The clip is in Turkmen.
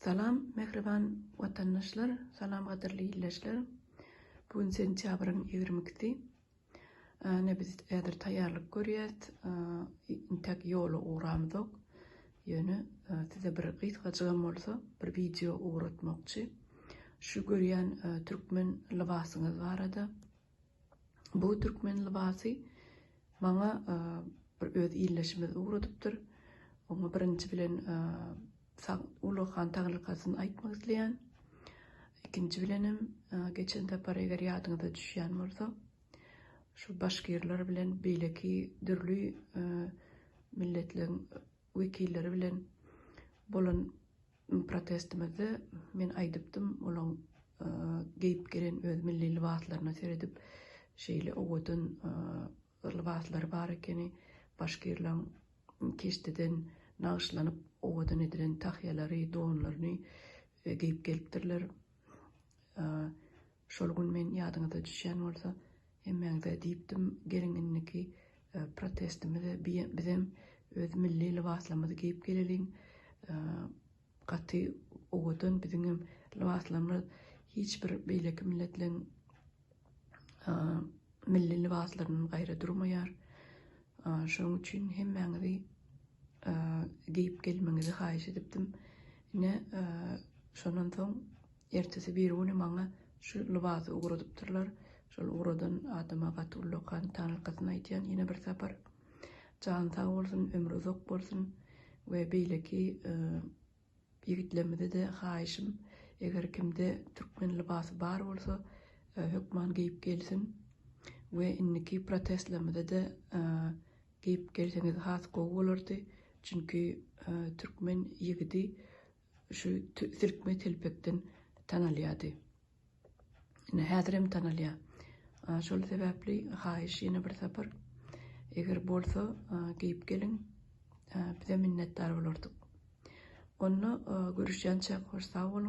Salam mähriban watandaşlar, salam gadyrly illeşler. Bu gün sentýabryň ýigrimi ikisi. Ine biz häzir taýýarlyk görýäs. Intäk ýola ugramyzok. Ýöne size bir gysgajygam bolsa bir wideo ugratmakçy. Şu görýän türkmen lybasyňyz barada. Bu türkmen lybasy maňa bir öz illeşimiz ugradypdyr. Oňa birinji bilen Ulag han taglykatyny aýtmak isleýän. Ikinji bilenem geçen sapar eger ýadyňyza düşýän bolsa, şu başgirler bilen beýleki dürli milletleriň wekilleri bilen bolan Protestimizde men aýdypdym, olaň geýip gelen öz milli lybaslaryna seredip, şeýle owadan lybaslary bar ekeni, başgirlaň keşdeden nagyşlanyp owadan edilen tahýalary, donlaryny geýip gelipdirler. Şol gün men ýadyňyza düşýän bolsa hemmäňize diýipdim, geliň indiki protestimize bizem öz milli lybaslarymyzy geýip geleliň, gaty owadan biziňem lybaslarymyz hiç bir beýleki milletleriň milli lybaslaryndan gaýra durmaýar. Şonuň üçin hemmäňizi geýip gelmegiňizi haýyş edipdim. Ine, şondan soň Ertesi birigüni maňa şu lybasy ugradypdyrlar. Şol ugradan adama gaty ullakan taňyrkasyny aýdýan ýene bir sapar. Jany sag bolsun, ömri uzak bolsun we beýleki ýigitlerimize-de haýyşym, eger kimde türkmen lybasy bar bolsa, hökman geýip gelsin we indiki protestlerimize-de geýip gelseňiz has gowy bolardy, çünki türkmen ýigidi Şu silkme telpekden tanalýardy. Ine häzirem tanalýar. Şol sebäpli haýyş ýene bir sapar eger bolsa geýip geliň. Bize minnetdar bolardyk. Onda görüşýänçäk hoş sag boluň.